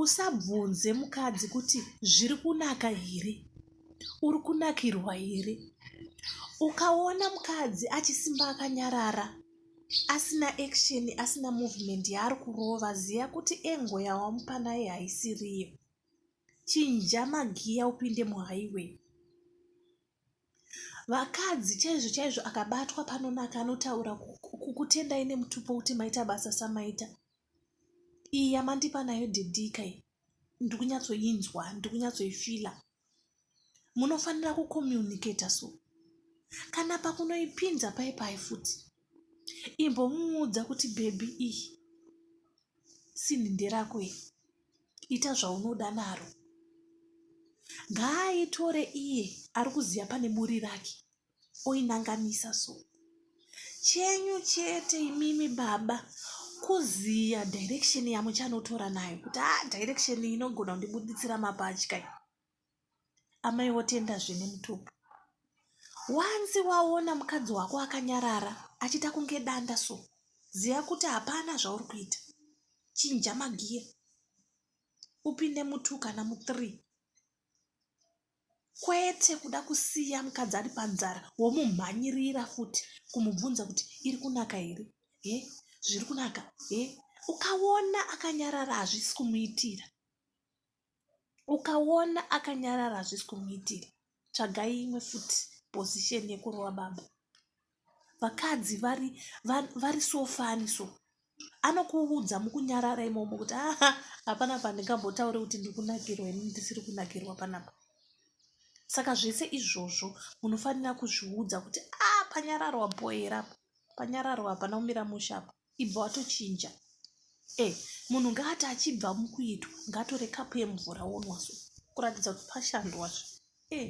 Usabvunze mukadzi kuti zviri kunaka here, uri kunakirwa here. Ukaona mukadzi achisimba akanyarara asina action asina movement yaari kurova ziva kuti engo yawamupa naye haisiriyo. Chinja magiya upinde muhighway. Vakadzi chaizvo chaizvo akabatwa panonaka anotaura kukutendai nemutupo kuti maita basa samaita. Iyi yamandipa nayo didika iyi ndikunyatsoinzwa ndikunyatsoifila. Munofanira kucommunicator so. Kana pakunoipinza pai pai futi. Imbomuudza kuti bhebhi iyi sinhi nderako iyi. ita zvaunoda naro ngaaitore iye ari kuziva pane muri rake oinanganisa so chenyu chete imimi baba kuziya direction yamuchanotora nayo kuti a ah, direction inogona kundibuditsira mapatya amai votenda zvine mutupo wanzi waona mukadzi wako akanyarara achiita kunge danda so ziva kuti hapana zvauri kuita chinja magiya upinde mutu kana muthree kwete kuda kusiya mukadzi ari panzara womumhanyirira futi kumubvunza kuti iri kunaka here he zviri kunaka he ukaona akanyarara hazvisi kumuitira ukaona akanyarara hazvisi kumuitira tsvagai imwe futi position yekurova baba vakadzi vari vari sofani so anokuudza mukunyarara imomo kuti aha hapana pandingambotaure kuti ndikunakirwa ini ndisiri kunakirwa panapa saka zvese izvozvo munofanira kuzviudza kuti a ah, panyararwa boerapo panyararwa hapana kumira mushapa ibva watochinja e eh, munhu ngaati achibva mukuitwa ngatore kapu yemvura wonwaso kuratidza kuti pashandwazve e eh.